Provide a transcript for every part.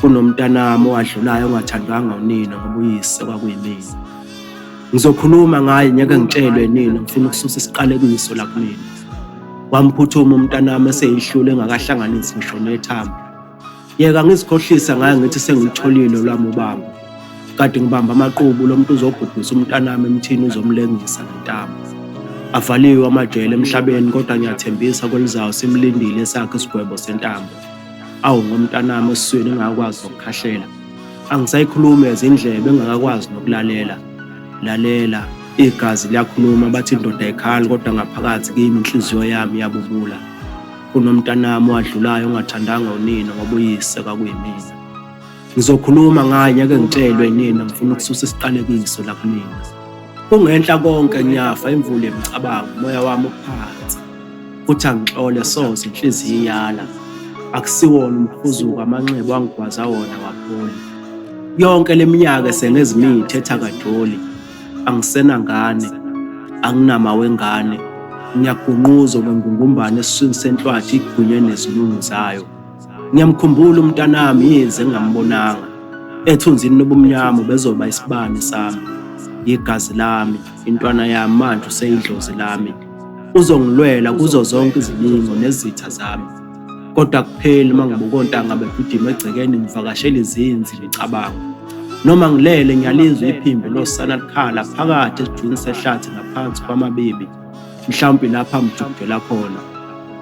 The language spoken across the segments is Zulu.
kunomntanami owadlulayo ongathandwanga unina ngoba uyise kwakuyimina ngizokhuluma ngaye ngeke ngitshelwe nina ngifuna ukususa isiqalekiso la kumina wamphuthuma umntanami eseyihlule engakahlanganisi ngisho nethambo yeka ngizikhohlisa ngaye ngithi sengilitholile lwami ubamba kade ngibamba amaqubu lo muntu uzobhubhisa umntanami emthini uzomlengisa nentamo avaliwe amajele emhlabeni kodwa ngiyathembisa kwelizayo simlindile esakhe isigwebo sentambo awu ngomntanami esiswini engakwazi nokukhahlela angisayikhulumi ezindlebe engakakwazi nokulalela lalela igazi liyakhuluma bathi indoda ekhali kodwa ngaphakathi kimi inhliziyo yami yabubula kunomntanami wadlulayo ongathandanga unina ngoba uyise kwakuyimina ngizokhuluma ngaye ngeke ngitshelwe yinina ngifuna ukususa isiqalekiso la kunina kungenhla konke ngiyafa imvula yemicabango umoya wami uphansi Uthi angixole soze inhliziyo iyala. Akusiwona umhuzuko amanxeba wangigwaza wona wapholi. Yonke leminyaka sengezimini thetha kadoli. Angisenangane, anginama wengane. Ngiyagunquza ngengungumbane esiswini senhlwathi igwinywe nezilungu zayo. Ngiyamkhumbula umntanami yize ngingambonanga. Ethunzini lobumnyama bezoba isibani sami. Yigazi lami, intwana yami manje useyidlozi lami. Uzongilwela kuzo zonke izilingo nezitha zami. Kodwa kupheli uma ngibuka ontanga begijima egcekeni ngivakashela izinzi ngicabanga. Noma ngilele ngiyalizwa iphimbo losana likhala phakathi esidwini sehlathi ngaphansi kwamabibi. Mhlawumbe lapha mjubhela khona.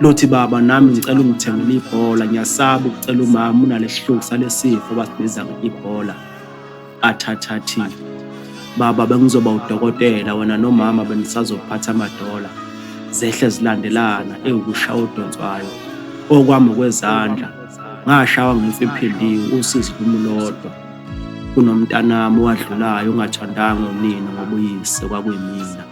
Lothi baba nami ngicela ungithengele ibhola ngiyasaba ukucela umama unalesihluku salesifo abasibiza ngebhola. athathathile baba bengizoba udokotela wena nomama benisazophatha amadola zehle zilandelana ewukushaya odonswayo okwami kwezandla ngashawa ngife ephindiwe usizi kumulodwa kunomntanami owadlulayo ongathandanga unina ngoba uyise kwakuyimina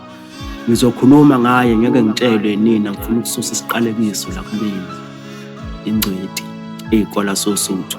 ngizokhuluma ngaye ngeke ngitshelwe nina ngifuna ukususa isiqalekiso la kumina ingcweti eyikola sosuthu